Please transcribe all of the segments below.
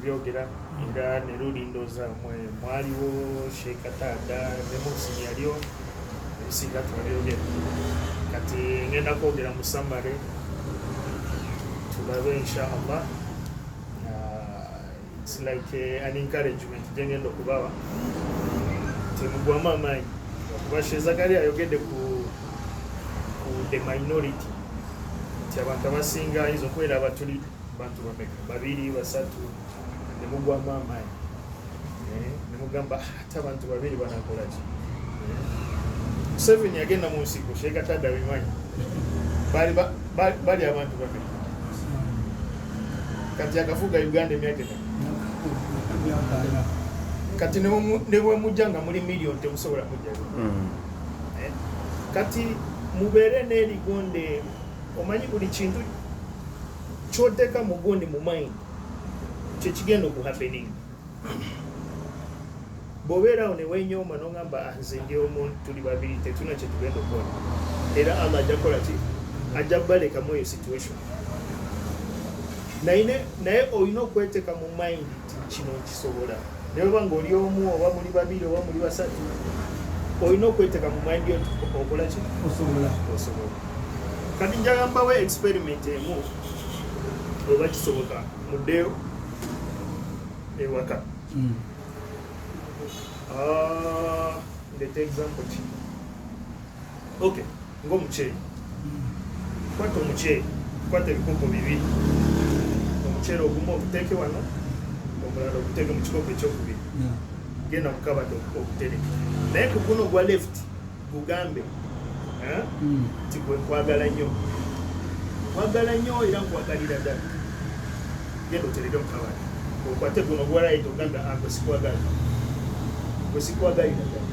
okubyogera era ne luli ndooza mwe mwaliwo sheeka taata ne munsi yaliyo ebisinga tubabyogera kati ngenda kwogera mu samale tulabe inshallah uh, it's like uh, an encouragement gyengenda okubawa temugwamu amaanyi okuba shezakali ayogedde ku the minority nti abantu abasinga ayinza okubeera abatulidde bantu bameka babiri basatu nemugwamu amaanyi eh, nemugamba ah, ate abantu babiri banakolaki eh, museveni yagenda mu nsiko sheekatada bimanyi bali abantu bameka kati akafuga uganda emyaka kati nebwemujja nga muli million temusobola kujja hmm. eh, kati mubeere neligonde omanyi buli kintu kyoteka mu gundi mu mind kyekigenda okuhappening bwobeerawo newenyooma nogamba ah, nze ndi omu tuli babiri tetuna kyetugenda okukola era allah ajja kukola ki ajja kubalekamu eyo situation naye olina okweteka mu mind kino nkisobola naye oba ngaoli omu oba muli babiri oba muli basatu olina okweteka mu mind yot okola ki osobola osobola kati njagambawo experiment emu oba kisoboka muddeyo ewaka hmm. ah, ndete example ki okay ng'omuceere kwata omuceere kwata ebikopo bibiri omuceere ogumu oguteeke wano omulala oguteeke mu kikopo ekyokubiri genda kukabada okutereka naye ku guno ogwa left gugambe eh, hmm. nti gwe nkwagala nnyo nkwagala nnyo era nkwagalira ddala genda otereke mu kabada okwate guno ogwa right ogambe agwe ah, sikwagala gwe sikwagalira ddala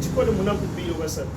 kikole munaku bbiri obasatu